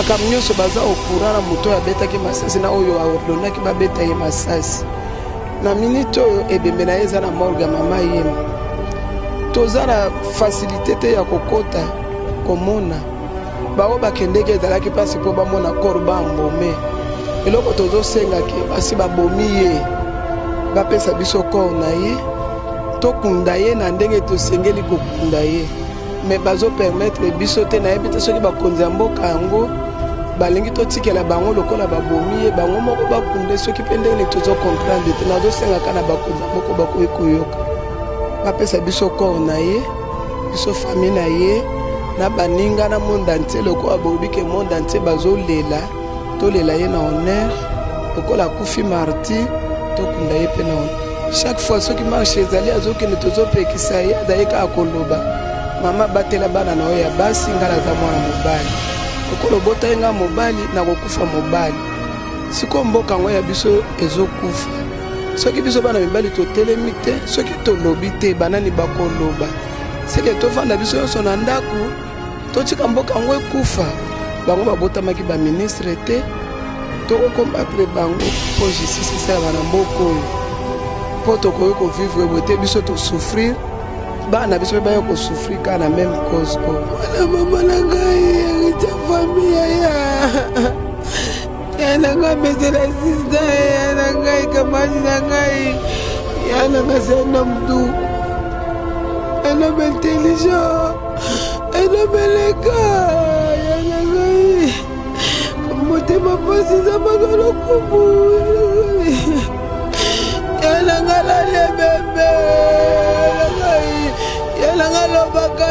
Makambo nyonso baza au courant na moto oyo abetaki masasi na oyo aordonaki babeta ye masasi. Na minute oyo ebembe na ye eza na morgue ya mama yema. Toza na facilite te ya kokota komona baoyo bakendeki ezalaki mpasi mpo bamona corps bambome. Eloko tozosenga ke basi babomi ye bapesa biso corps na ye tokunda ye na ndenge tosengeli kokunda ye. mais bazo permettre biso te nayebi te soki bakonzi ya mboka yango balingi totikela bango lokola babomi ye bango moko bakunde soki mpe ndenge nini tozo comprendre te nazosengaka na bakonzi ya moko bakoki koyoka bapesa biso corps na ye biso famille na ye na baninga na monde entier lokola boyebi ke monde entier bazolela tolela ye na honneur lokola akufi marti tokunda ye mpe na honneur chaque fois soki marche ezali azokende tozopekisa ye azali kaka koloba mama batela bana na yo ya basi ngai naza mwana mobali lokola obotaki ngai mobali nakokufa mobali sikoyo mboka yango ya biso ezokufa soki biso bana mibali totelemi te soki tolobi te banani bakoloba seke tofanda biso nyonso na ndako totika mboka yango ekufa bango babotamaki baministre te tokokombatre bango mpo justice esalama na mboka oyo mpo tokoki kovivre boye te biso tosouffrir bana biso mpe baya kosouffrir kaka na meme cause oyo mwana mama na ngai erita fami yaya Yana nga mesela sista yana ngai kamani na ngai yana nga c'est un homme doux un homme intelligent un homme élégant yana ngai motema mpasi eza baka lokumu yana nga lale bebe yana ngai yana nga lobaka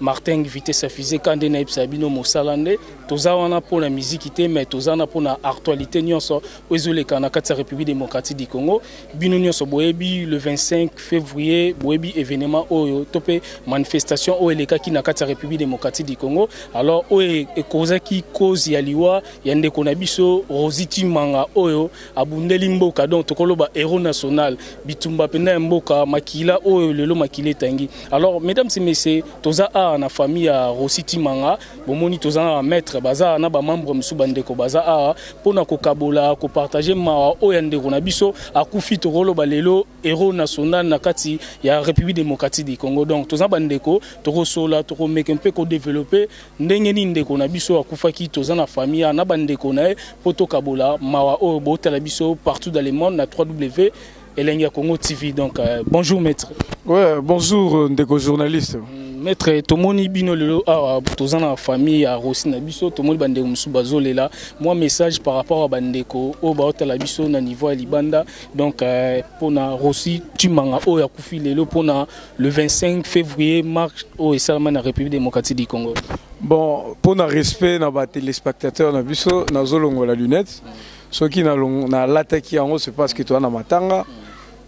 Martin ngvite safise ka nde nayebisa bino mosala nde toza wana pona miziki te mais toza wana pona artualite nionso oyo ezoleka na kati ya republique democratique du congo bino nionso boyebi le 25 fevrier boyebi evenement oyo to pe manifestation oyo elekaki na kati ya republique democratique du congo alors oyo ekozaki cause ya liwa ya ndeko na biso rosi timanga oyo Abundeli mboka donc toko loba heros national bitumba penda ya mboka makila oyo lelo makila etangi alors mesdames et messieurs toza awa na famille ya Rossy Tshimanga bomoni toza na ba maître baza na ba membre misu ba ndeko baza awa pona ko kabola ko partager mawa oyo ya ndeko na biso akufi toko loba lelo heros national na kati ya Republique democratique du Congo donc toza ba ndeko toko sola toko meka mpe ko developper Ndenge nini ndeko na biso oyo akufaki toza na famille awa na ba ndeko na ye po tokabola mawa oyo botala biso partout dans le monde na ww elengi ya congo TV donc euh, bonjour maitre. Ouais, bonjour euh, ndeko journaliste. Mm, maître tomoni bino lelo awa toza na famille ya Rossi na biso tomoni bandeko mosusu bazolela mwa message par rapport ya bandeko oyo baotala biso na niveau ya libanda donc euh, mpona Rossi Tshimanga oyo akufi lelo mpona Le 25 fevrier, marche au Esalama na République démocratique du Congo. Bon, pour le respect na ba téléspectateurs na biso, na zolongo la lunette. Ceux qui na na lataki yango c'est parce que tu as na matanga.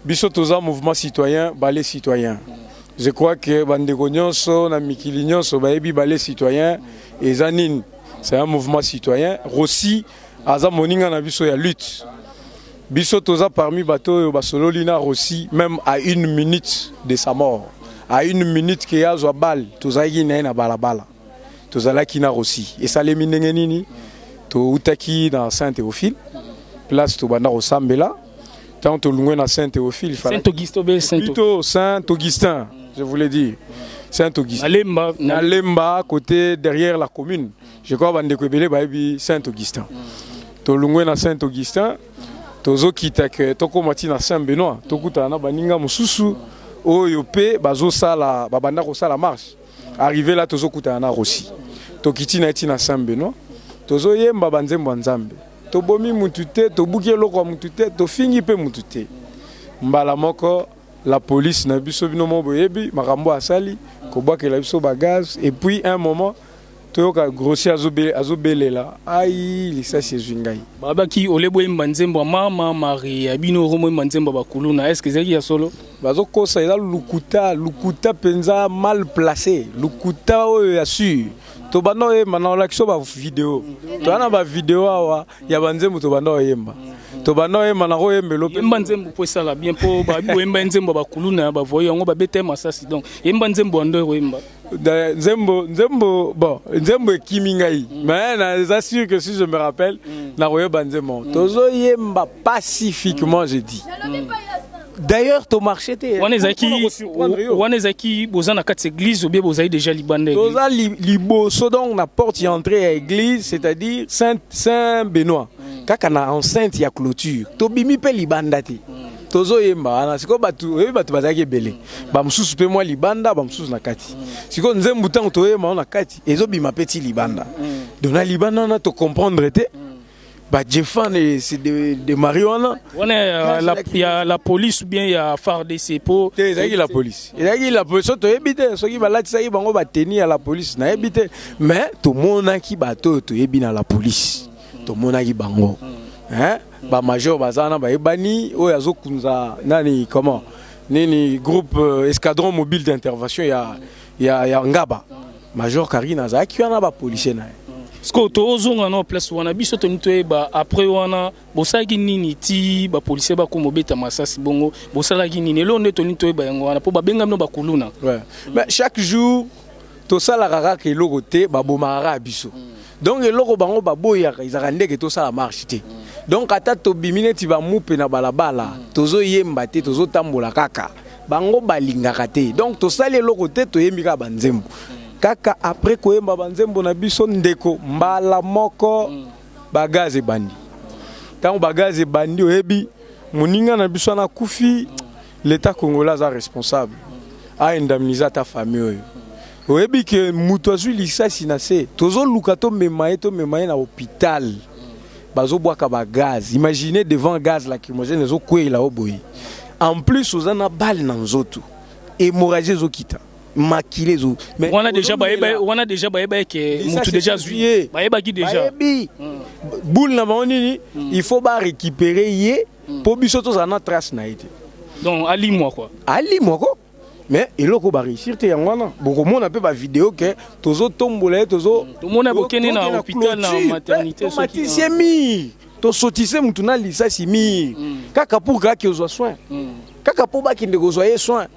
Biso toza mouvement citoyen, balé citoyen. Je crois que bandeko nyonso na mikili nyonso bayebi balé citoyen et zanine. C'est un mouvement citoyen. Rossi aza moninga na biso ya lutte biso toza parmi bato oyo basololi na Rossi même à une minute de sa mort à une minute ke azwa bale tozalaki na ye na balabala tozalaki na Rossi esalemi ndenge nini toutaki na Saint Théophile place tobanda kosambela ntango tolungwe na Saint Théophile Saint Augustin obe Saint plutôt Saint Augustin je voulais dire Saint Augustin Nalemba, Nalemba côté derrière la commune je crois bandeko ebele bayebi saint augustin tolungwe na saint augustin tozokita ke tokóma ti na saint benoît tokutana na baninga mosusu oyo mpe bazosala babanda kosala marche arrive la tozokutana na rosi tokiti na ye ti na saint benoît tozoyemba banzembo ya nzambe tobomi mutu te tobuki eloko ya mutu te tofingi mpe mutu te mbala moko la police na biso bino moko boyebi makambo asali kobwakela biso bagaz et puis un moment toyoka grossi azo belela aii lisasi ezwi ngai. Balobaki au lieu boyemba nzembo ya mama Marie ya bino oko moyemba nzembo ya ba kuluna est ce que ezalaki ya solo? Bazo kosa eza lukuta lukuta penza mal place lukuta oyo ya sur tobanda oyemba na olakisa yo ba video toza na ba video awa ya ba nzembo tobanda oyemba tobanda oyemba na koyembelo pe yemba nzembo po esala bien po ba boyemba nzembo ya ba kuluna ba voyou yango ba beta masasi donc yemba nzembo ya ndo oyemba nzembo nzembo bon nzembo ekimi ngai mm. mais na eza sûr que si je me rappelle mm. na koyeba nzembo mm. tozo yemba pacifiquement mm. je dis mm. D'ailleurs, ton marché était. On est qui On est qui Boza na quatre églises ou bien Boza déjà libandé. Boza liboso donc na porte d'entrée à église, c'est-à-dire Saint Saint Benoît. Mm. Kaka na enceinte ya clôture. Tobimi pe libandati. Mm. tozo yemba wana sikoyo bato oyebi bato bazalaki ebele bamosusu mpe mwa libanda bamosusu na kati sikoyo nzembu ntango toyemba yango na kati ezobima mpe ti libanda donc na libanda wana tocomprendre te bajefan se demari wana wana ya la, ya la police ou bien ya fardc po te ezalaki la police ezalaki la police so toyebi te soki balatisaki bango bateni ya la police nayebi te mais tomonaki bato oyo toyebi na la police tomonaki bango hein? Ba major baza wana bayebani oyo azo kunza nani comment nini groupe euh, escadron mobile d'intervention ya, ya, ya Ngaba major Karina azalaki wana ba policier na ye sikoyo tozonga na place wana biso toni toyeba après wana bosalaki nini ti bapolisier bakoma obeta masasi bongo bosalaki nini eloo nde toni toyeba yango wana mpo babenga bino bakuluna ouais. mais chaque jour tosalaka kaka eloko te babomaka kaka biso donc eloko bango baboyaka ezalaka ndeke tosala marche te donc ata tobimi neti bamupe na balabala tozoyemba te tozotambola kaka bango balingaka te donc tosali eloko te toyembi kaka banzembo kaka après koyemba banzembo na biso ndeko mbala moko bagaz ebandi ntango bagaz ebandi oyebi moninga na biso wana akufi L'etat congolais aza responsable a indemniser ata famille oyo. Oyebi que mutu azui lisasi na se tozo luka to mema ye to mema ye na hopital bazo bwaka ba gaz imaginez devant gaz lacrymogène ezo kweyela yo boye en plus oza na balle na nzotu hemorragie ezo kita makila ezo mais wana deja bayeba wana deja bayeba que mutu deja azui ye bayeba ki deja bayebi boule na bango nini il faut ba recuperer ye po biso tozala na trace na ye te donc alimwa quoi alimwa ko mais eloko ba réussir te yango wana bokomona mpe bavideo ke tozotombola ye tozo mm, tomona bokende na hôpital na maternité eh, somatisi ye mire tosotise motu na lisasi mire mm. kaka pour kaka ozwa soin mm. kaka mpo bakende kozwa ye soin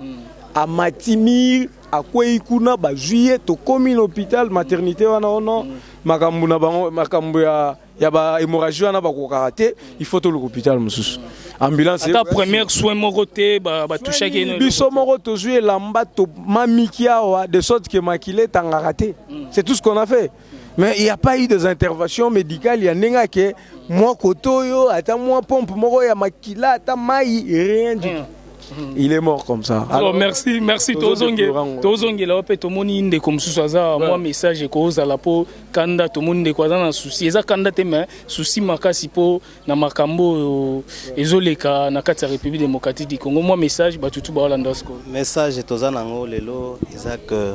amati mire akwei kuna bazwi ye tokomi na hôpital maternité wana ono makambo na bango makambo ya ya ba hémorragie wana bakokaka te il faut toluka hôpital mosusu ambulance ata première soin moko te batouchaki ba biso moko tozwi elamba tomamiki awa de sorte que makila etangaka te mm. c'est tout ce qu'on a fait mais il n'y a pas eu des interventions médicales ya ndenge ake mwa koto oyo ata mwa pompe moko ya makila ata mai rien du mm. tout Mm. il est mort comme ça alors merci merci tozongela yo mpe tomoni ndeko mosusu aza mwa message ekozala mpo kanda tomoni ndeko aza na souci eza kanda te mais souci makasi mpo na makambo oyo ezoleka na kati ya république démocratique du congo mwa message bato tu baolanda sikoyo message toza na yango lelo eza ke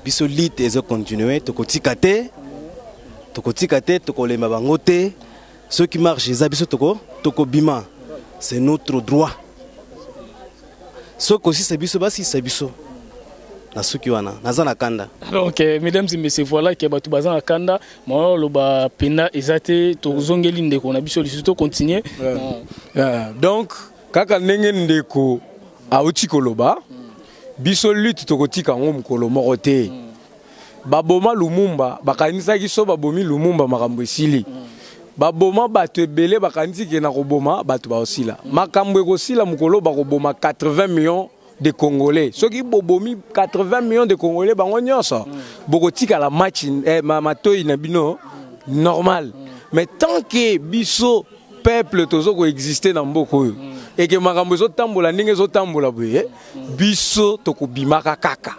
biso lite ezo continue tokotika te tokotika te tokolemba bango te soki marche eza biso toko tokobima c'est notre droit Soki kosisa biso basisa biso na suki wana naza na kanda donc euh, mesdames et messieurs voilà que bato baza na kanda mawa loba penda eza te tozongeli ndeko na biso lisusu to continue euh, euh, donc kaka ndenge ndeko auti koloba biso lutte tokotika yango mokolo moko te mm. ba boma lumumba bakanisaki soki babomi lumumba makambo esili ba boma batu ebele bakanisi ke na koboma batu bakosila makambo ekosila mokolo oyo bakoboma 80 millions de congolais soki bobomi 80 millions de congolais bango nionso bokotikala match eh, ma, matoyi na bino normal mais tant que biso peuple tozo ko exister na mboka oyo et que makambo ezo tambola ndenge ezo tambola boye biso toko bimaka kaka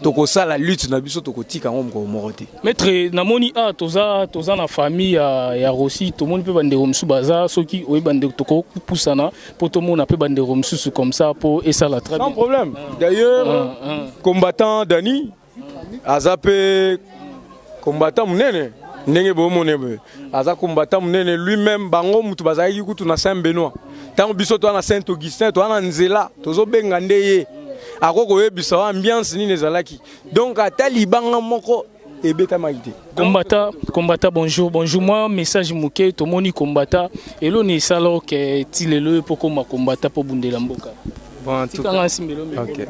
toko sala lutte na biso toko tika ngo moko moko te maître na moni a ah, toza toza na famille ya ya Rossi to moni pe bande romsu baza soki oyi bande toko pusana po to mona pe bande romsu comme ça po esala très bien sans problème d'ailleurs ah, ah. combattant Dani aza pe combattant munene ndenge bomone boye aza combattant munene lui même bango mutu bazalaki kutu na saint benoît ntango biso toa na saint augustin toa na nzela tozobenga nde ye akoki koyebisa wa ambiance nini ezalaki donc ata libanga moko ebetamaki te kombata kombata bonjour bonjour mwa message moke tomoni kombata eloni esala oke ti lelo ye mpo koma kombata mpo bundela mboka bon, tikanga nsimbelo okay.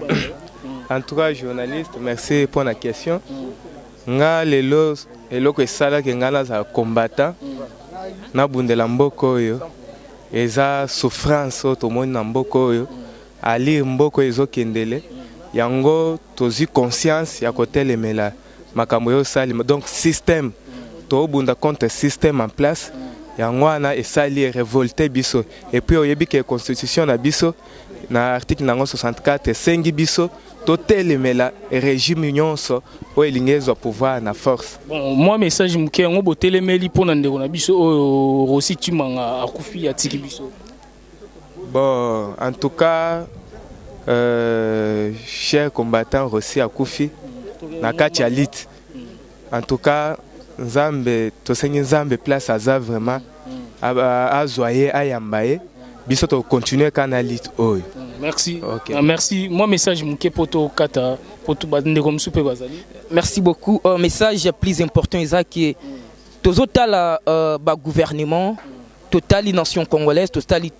En tout cas journaliste merci pour la question. Nga lelo eloko esalaki nga nazala combattant nabundela mboka oyo eza souffrance oyo tomoni na mboka oyo alire mboka oyo ezokendele yango tozwi conscience ya kotelemela makambo oyo osalima donc système tobunda contre système en place yango wana esali revolte biso epuis oyebi ke constitution na biso Na article na yango 64 esengi biso totelemela regime nyonso oyo elingi ezwa pouvoir na force. Bon, mwa message moke yango botelemeli mpo na ndeko na biso oyo Rossy Tshimanga akufi atiki biso. Bon, en tout cas euh, cher combattant Rossy akufi na kati ya lutte. En tout cas nzambe tosengi nzambe place aza vraiment azua ye ayamba ye biso to continuer ka na lutte oyo. Merci. Okay. Uh, merci. Moi message muke poto kata poto ba ndeko musu pe bazali. Merci beaucoup. Uh, message plus important eza que tozotala uh, ba gouvernement totali nation congolaise totali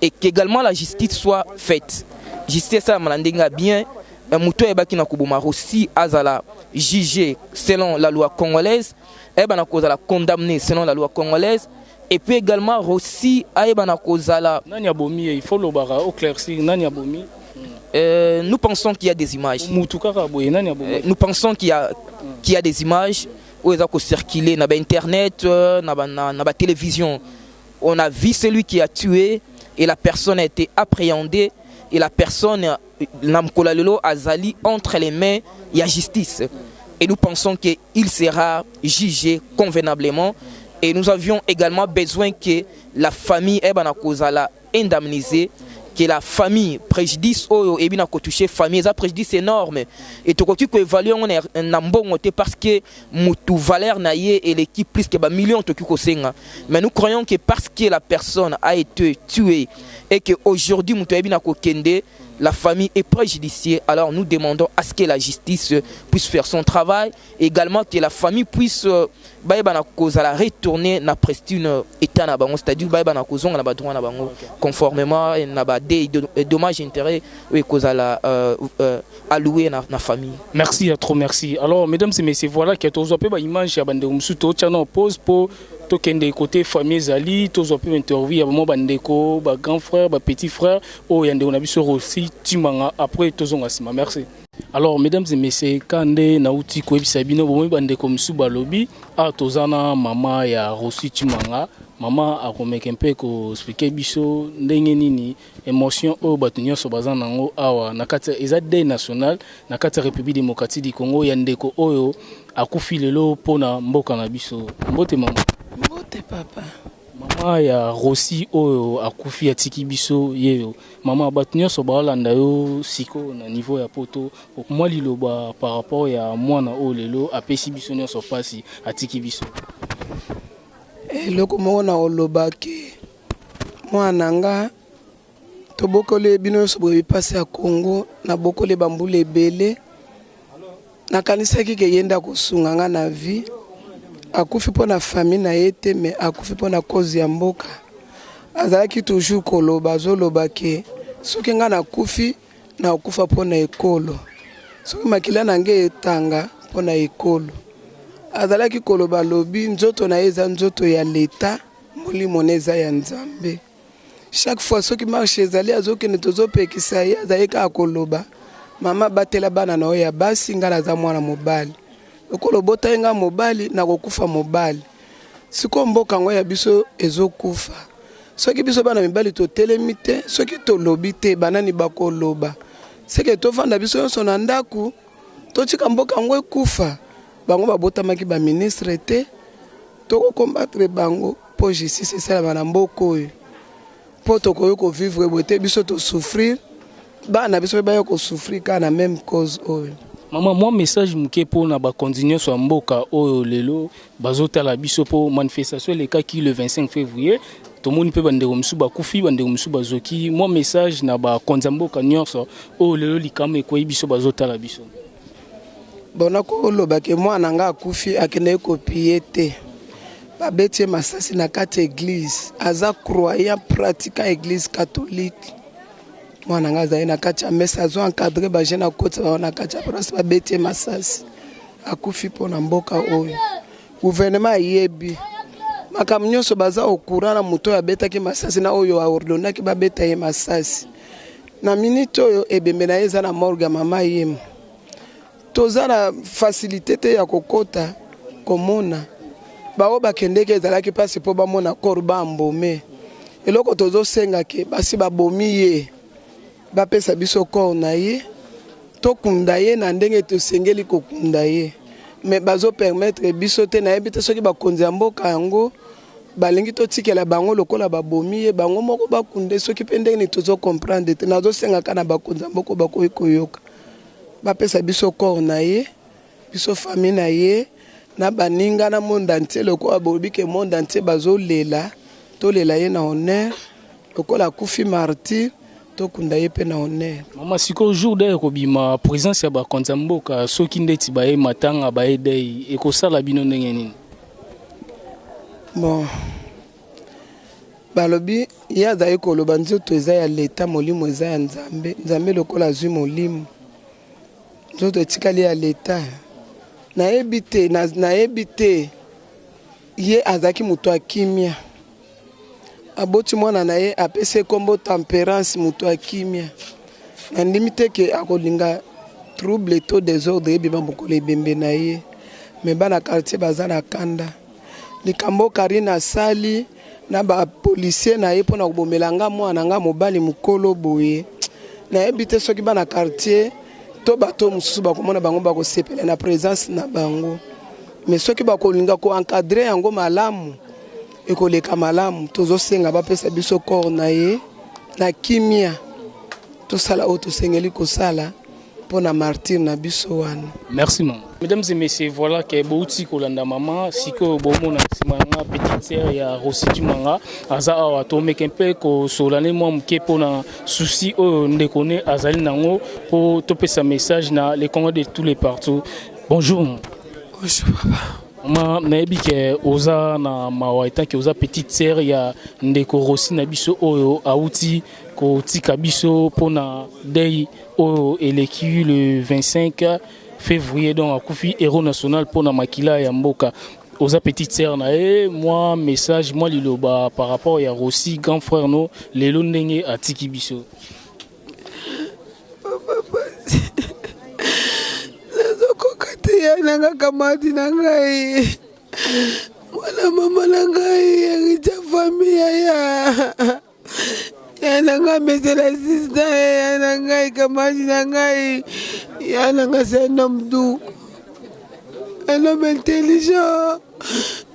et qu'egalement la justice soit faite justice esalama na ndenge ya bien eh, moto ayebaki na koboma rosi azala juge selon la loi congolaise ayebana kozala condamne selon la loi congolaise et puis également rosi ayebana kozala nani abomi ye il faut lobaka au claircir nani abomi euh, nous pensons qu'il y a des images euh, nous pensons qu'il y a qu'il y a des images où ils ont circulé na internet euh, na ba, na, na ba télévision On a vu celui qui a tue et la personne a ete apprehende et la personne na mokolo ya lelo azali entre les mains ya justice et nous pensons que il sera juge convenablement et nous avions egalement besoin que la famille ayebana kozala indemnise que la famille prejudice oyo eyebi na ko touche famille eza prejudice enorme et tokoki ko evaluer yango na mbongo te parce que mutu valeur na ye eleki plus que ba millions toki ko senga mais nous croyons que parce que la personne a ete tue et que aujourd'hui mutu ayebi na ko kende la famille est prejudicier alors nous demandons à ce que la justice puisse faire son travail egalement que la famille puisse euh, bayeba na ko zala retourner na prestune euh, etat na bango c'est-à-dire bayeba na ko zonga na ba droit na bango conformément na ba dé- dommage intérêt oyo ekozala euh, euh, a louer na, na famille. Merci ya trop merci. Alors mesdames et messieurs voilà que tozwa pe ba image ya bande musu to tchano pause po to kende côté famille zali tozwa pe interview ya ba ba ndeko ba grand frère ba petit frère o ya ndeko na biso Rossi Timanga après tozonga sima merci. Alors mesdames et messieurs kande na uti ko ebisa bino bomoyi ba ndeko musu ba lobi a tozana mama ya Rossi Timanga mama akomeke mpe ko expliquer biso ndenge nini Emotion oyo bato nionso baza nango awa na kati eza deuil national na kati ya Republique democratique du Congo ya ndeko oyo akufi lelo mpo na mboka na biso. Mbote maman. Mbote papa. Maman ya Rossy oyo akufi atiki biso ye yo. Maman bato nionso baolanda yo sikoyo na niveau ya poto mwa liloba par rapport ya mwana oyo lelo apesi biso nionso pasi atiki biso. Eloko moko nakoloba que. Muana nga tobokole bino nioso boyebi pasi ya congo na bokole ba mbula ebele na kanisaki ke yende akosunga nga na vie akufi pona famille na ye te mais akufi pona cause ya mboka azalaki toujours koloba azoloba ke soki nga na kufi na okufa pona ekolo soki makila na nga etanga pona ekolo azalaki koloba lobi nzoto na ye eza nzoto ya leta Molimo ne eza ya Nzambe. Chaque fois soki marche ezali azokende tozopekisa ye azali kaka koloba mama batela bana na yo ya basi ngai naza mwana mobali lokola obotaki ngai mobali nakokufa mobali sikoyo mboka yango ya biso ezokufa soki biso bana mibali totelemi te soki tolobi te banani bakoloba seke tofanda biso nyonso na ndako Totika mboka yango ekufa. Bango babotamaki ba ministre te. Toko combattre bango po justice esalama na mboka oyo. Po tokoki ko vivre boye te biso to souffrir bana na biso pe baya ko souffrir kaka na meme cause oyo. Maman mwa message muke po na bakonzi nionso ya mboka oyo lelo Bazo tala biso po manifestation elekaki le 25 fevrier tomoni pe bandeko misusu bakufi bandeko misusu bazoki mwa message na ba konza mboka nionso oyo lelo likama ekweyi biso bazo tala biso. Bon nakoloba ke mwana nga akufi akendeki ko piller te babeti ye masasi na kati ya eglise aza croyant pratiquant eglise catholique mwana nga azali na kati ya mesa azo encadre ba jeune akotisa bango na kati ya paroisse babeti ye masasi Akufi mpo na mboka oyo. Gouvernement ayebi makambo nionso baza au courant na moto oyo abetaki masasi na oyo a ordonnaki babeta ye masasi na minute oyo ebembe na ye eza na morgue ya mama yemo toza na facilite te ya kokota komona baoyo bakendeki ezalaki mpasi mpo bamona corps bambome eloko tozosenga ke basi babomi ye Bapesa biso corps na ye tokunda ye na ndenge tosengeli kokunda ye mais bazo permettre biso te nayebi te soki bakonzi ya mboka yango balingi totikela bango lokola babomi ye bango moko bakunde soki mpe ndenge nini tozo comprendre te nazosengaka na bakonzi ya mboka bakoki koyoka bapesa biso corps na ye Biso famille na ye na baninga na monde entier lokola bolobi ke monde entier bazo lela tolela ye na honneur lokola akufi martyr tokunda ye pe na honneur. Maman sikoyo jour deuil ekobima presence ya ba konzi ya mboka soki ndeti baye matanga baye deuil ekosala bino ndenge nini? Bon balobi ye azali koloba nzoto eza ya l'etat molimo eza ya nzambe, nzambe lokola azui molimo. Nzoto etikali ya leta. Nayebi te, nayebi te. Ye azalaki moto ya kimia. Aboti mwana na ye, apesi ye nkombo Temperance, moto ya kimia. Nandimi te ke akolinga trouble to desordre ebima mokolo ebembe na ye. Me bana quartier baza na kanda. Likambo carine asali na ba policier na ye pona kobomela nga mwana na nga mobali mukolo boye nayebi te soki bana quartier to bato oyo mosusu bakomona bango bakosepela na presence na bango mais soki bakolinga ko encadre yango malamu ekoleka malamu tozosenga bapesa biso corps na ye na kimia tosala oyo tosengeli kosala mpo na martyr na biso wana. Merci maman. Mesdames et messieurs, voilà que Bouti Kolanda Maman, Siko Bomona Simanga, petite sœur ya Rossi Kimanga, aza awa to meke un peu ko solane mwa moke mpo na souci oyo ndeko ne azali nango mpo topesa message na les Congolais de tous les partout. Bonjour. Bonjour papa. Ma nayebi ke oza na mawa etant ke oza petite sœur ya ndeko Rossi na biso oyo awuti kotika biso mpo na dei oyo eleki le 25 fevrier donc akufi héros national mpo na makila ya mboka oza petite sœur na ye mwa message mwa liloba par rapport ya Rossi grand frère no lelo ndenge atiki biso nanga kamati na ngai mwana mama na ngai erita fami yaya ya na ngai mesela sista ye ya na ngai kamati na ngai ya na ngai c'est un homme doux un homme intelligent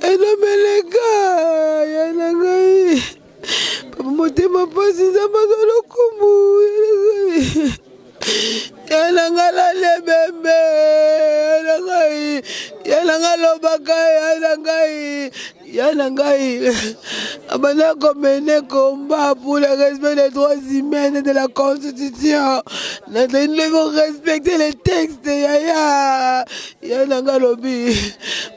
un homme élégant ya na ngai papa motema mpasi nzambe azwa lokumu ya na ngai yananga lale bembe yana ngai yananga lobaka yana ngai yana ngai abanda komene komba pour le respect des droits humains et de la constitution nazali ndeko respecter les textes yaya yananga lobi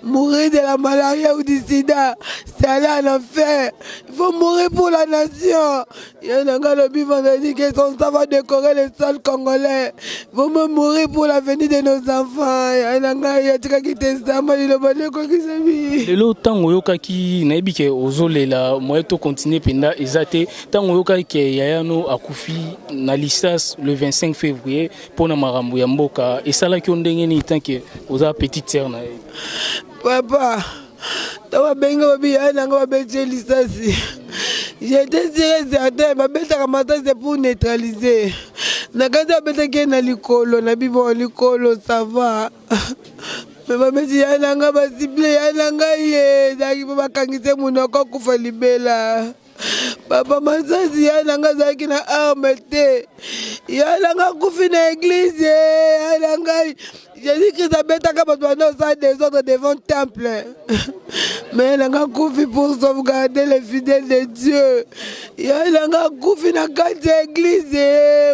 mourir de la malaria ou du sida c'est aller en enfer il faut mourir pour la nation Ye na nga lobi vendredi que son sang va décorer le sol congolais. Vont me mourir pour l'avenir de nos enfants. Ye na nga ye atikaki te zamba liloba nde ekokisa bi. Lelo tango oyokaki nayebi ke ozolela moyen to continuer penda eza te tango oyokaki ke yaya no akufi na lisas le 25 fevrier pona makambo ya mboka esalaki yo ndenge nini tant que oza petite sœur na ye? Papa. ntango babengi babi yaya na ngai babeti ye lisasi j'étais sûr et certain babetaka masasi pour neutraliser na kati babetaki ye na likolo na bibo likolo sava me babeti yaya na ngai basible yaya na ngai ye ezalaki mpo bakangisi ye monoko akufa libela papa masasi ya na nga azalaki na arme te ya na nga akufi na eglize ya na ngai jésus christ abetaka bato banda osala desordre devant temple mais na nga akufi pour sauvegarder les fidèles de dieu ya na nga akufi na kati ya eglize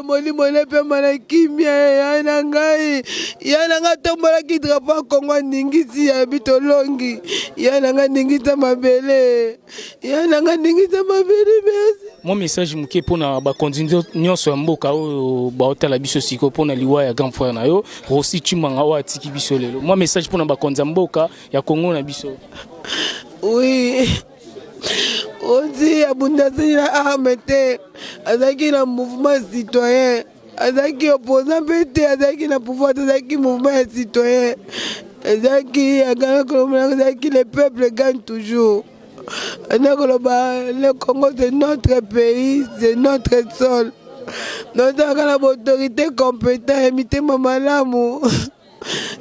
molimo nepema na kimia ya na ngai ya na nga atombolaki drapo ya kongo aningisi ya bitolongi ya na nga aningisa mabele ya nanga ndingisa mabele merci mwa message moke mpo na bakonzi nyonso ya mboka oyo baotala biso siko mpo na liwa ya grand frère na yo rosi cimanga oyo atiki biso lelo mwa message mpo na bakonzi ya mboka ya kongo na biso oui rosi abundaseli na arme te azalaki na mouvement citoyen azalaki opposant mpe te azalaki na pouvoir te azalaki mouvement ya citoyen ezalaki aganakolomona ezalaki le peuple gagne toujours na koloba le congo c'est notre pays c'est notre sol nozalaka na baautorité compétent ya mitema malamu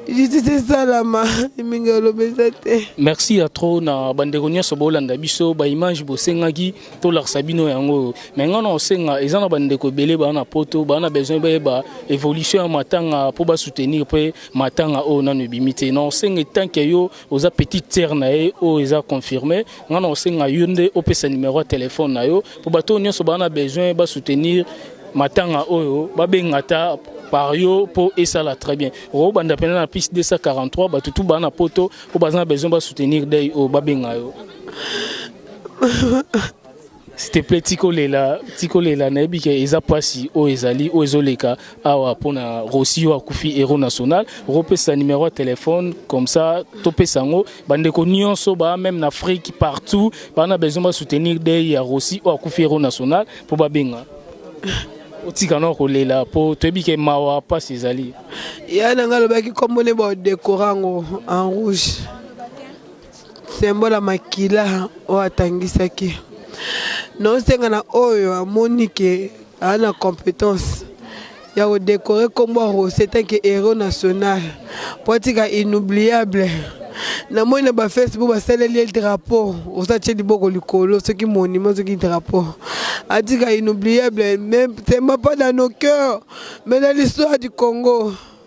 justice esalama mingi oloba eza te merci ya trop na bandeko nyonso bolanda biso baimage bosengaki tolakisa bino yango oyo mai ngai na osenga eza na bandeko ebele baa na poto baa na besoin bayeba évolution ya matanga mpo basoutenir mpe matanga oyo nano ebimi te na osenga etanke yo oza petite sœur na ye oyo eza confirme nga na osenga yo nde opesa numero ya telefone na yo mpo bato oyo nyonso baa na besoin basoutenir matanga oyo babenga ata par yo mpo esala très bien okobanda mpena na piste 243 bato tu baa na poto mpo baza na besoin basoutenir dei oyo babenga yo S'il te plaît tika olela tika olela nayebi ke eza pasi oyo ezali oyo ezoleka awa pona Rossy oyo akufi hero national okopesa numero ya telephone comme ça topesa yango bandeko nionso ba meme na Afrique partout ba na besoin ba soutenir deuil ya Rossy oyo akufi hero national po babenga otika nao kolela po toyebi ke mawa pasi ezali Yaya na nga alobaki kombo ne ba odekora yango en rouge. Symbole ya makila oyo atangisaki. Naosenga na oyo amoni ke aa na competence ya ko decorer kombo ya Rossy en tant que heros national po atika inoubliable. Namoni na ba Facebook basaleli ye drapeau, Rossy atie liboko likolo soki monument soki drapeau. Atika inoubliable mais c'est pas dans nos coeurs mais dans l'histoire du Congo.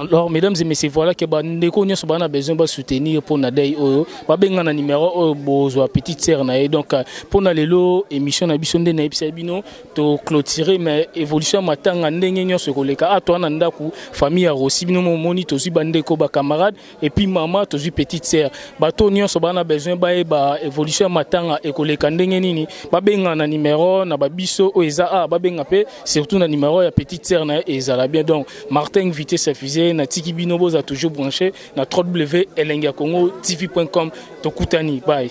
Alors, mesdames et messieurs, voilà que ba ndeko nyonso bana besoin ba soutenir pour na dei oyo. Ba benga na numéro oyo bozwa petite sœur na ye. Donc, euh, pour na lelo émission na biso nde na ebisa bino to clôturer mais évolution matanga ndenge nyonso koleka. Ato na ndaku famille ya Rossi bino moni tozwi ba ndeko ba camarades et puis maman tozui petite sœur bato nyonso bana besoin bayeba évolution ya matanga ekoleka ndenge nini babenga na numero na babiso oyo eza a babenga mpe surtout na numero ya petite sœur na ezala bien donc martin invité sefise natiki bino boza toujours branché na www elengi ya congo tv.com tokutani bye